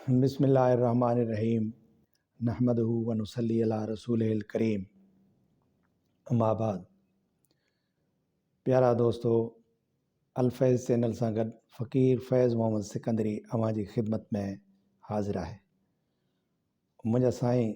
بسم الله الرحمٰن الرحيم نحمده ونصلي علي رسوله الڪريم اما بعد پيارا دوستو الفيض چينل سان گڏ فقير فيض محمد سڪندري اوهان جي خدمت ۾ حاضر آهي منهنجا سائين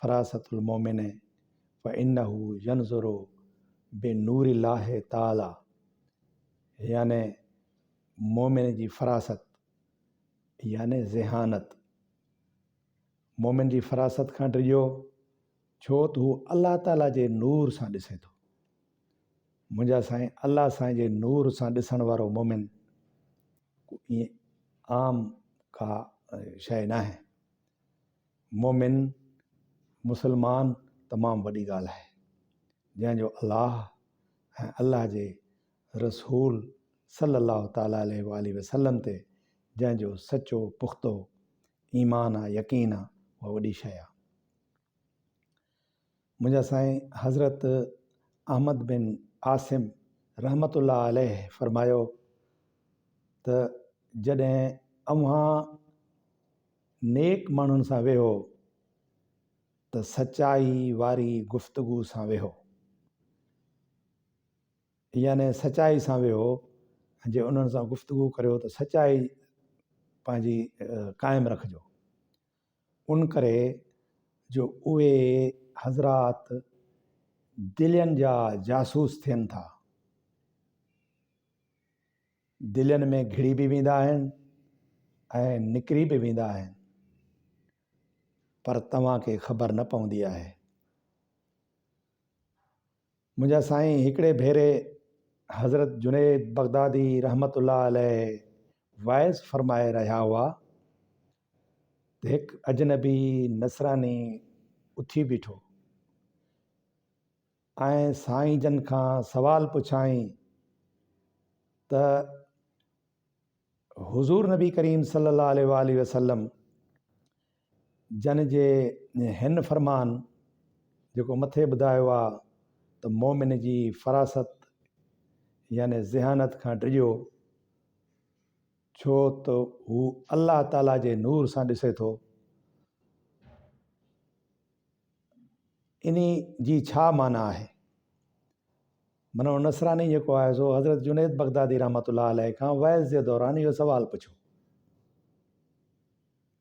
فراست المومن فانه ينظر بنور الله تعالٰي يعني مومن جي فراست يعني ذهانت مومن جي فراست کان ڊڄو ڇو ته هو الله تعالٰي جي نور سان ڏسي ٿو منهنجا سائين الله سائين جي نور سان ڏسڻ وارو مومن ائين عام ڪا شيء ناهي مومن، مسلمان، تمام وڏي ڳالهه آهي، جنهن جو الله ۽ الله جي رسول صلّي اللّٰه تعالٰي عليه واٰله وسلّم تي جنهن جو سچو پختو ايمان آ، يقين آ، اها وڏي شيء آ. منهنجا سائين حضرت احمد بن عاصم رحمة الله عليه فرمايو ته جڏهن اوهان نيڪ ماڻهن سان ويهو ته سچائي واري گفتگو سان ويهو يعني سچائي سان ويهو جي انهن سان گفتگو ڪريو ته سچائي پنهنجي قائم رکجو ان ڪري جو اهي حضرات دلين جا جاسوس ٿين ٿا. دلين ۾ گهڙي به ويندا آهن ۽ نڪري به ويندا آهن. پر توهان کي خبر نه پوندي آهي. منهنجا سائين هڪڙي ڀيري حضرت جنيد بغدادي رحمة الله عليه واعظ فرمائي رهيا هئا ته هڪ اجنبي نصراني اٿي بيٺو ۽ سائين جن کان سوال پڇيائين ته حضور نبي ڪريم صلي الله عليه وآله وسلم جنھن جي ھن فرمان، جيڪو مٿي ٻڌايو آ، ته مؤمن جي فراست يعني ذھانت کان ڊڄو، ڇو ته ھو الله تعالي جي نور سان ڏسي ٿو. انھي جي ڇا معنيٰ آھي؟ منو نصراني جيڪو آھي سو حضرت جنيد بغدادي رحمة الله عليه کان وعظ جي دوران اھو سوال پڇيو.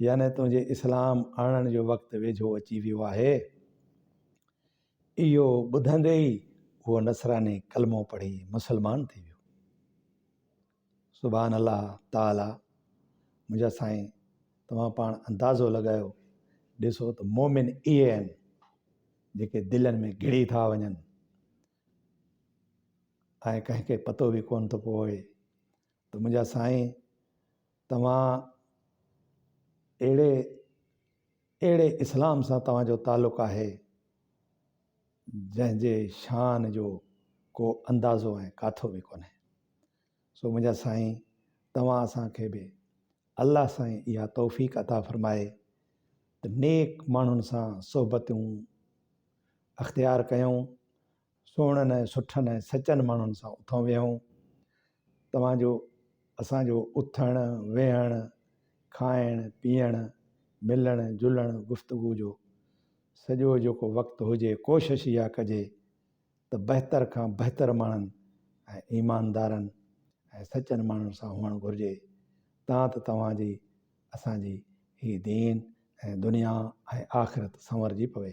يعني تنهنجي اسلام آڻڻ جو وقت ويجهو اچي ويو آهي. اهو ٻڌندي ئي اهو نصراني ڪلمو پڙهي مسلمان ٿي ويو. سبحان الله تعاليٰ منهنجا سائين توهان پاڻ اندازو لڳايو ڏسو ته مومن اهي آهن جيڪي دلين ۾ گهڙي ٿا وڃن ۽ ڪنهن کي پتو به ڪونه ٿو پوي ته منهنجا سائين توهان اهڙي اهڙي اسلام سان توهان جو تعلق آهي جنهن جي شان جو ڪو اندازو ۽ ڪاٿو به ڪونهي سو منهنجا سائين توهان اسان کي به الله سائين اها توفيق عطا فرمائي ته نيڪ ماڻهن سان صحبتون اختيار ڪيون سهڻن ۽ سٺن ۽ سچن ماڻهن سان اٿئون ويهئون. توهان جو اسان جو اٿڻ، ويهڻ، کائڻ، پيئڻ، ملڻ، جلڻ، گفتگو جو سڄو جيڪو وقت هجي ڪوشش اها ڪجي ته بهتر کان بهتر ماڻهن ۽ ايماندارن ۽ سچن ماڻهن سان هئڻ گهرجي تان ته توهان جي اسان جي هي دين ۽ دنيا ۽ آخرت سنورجي پوي.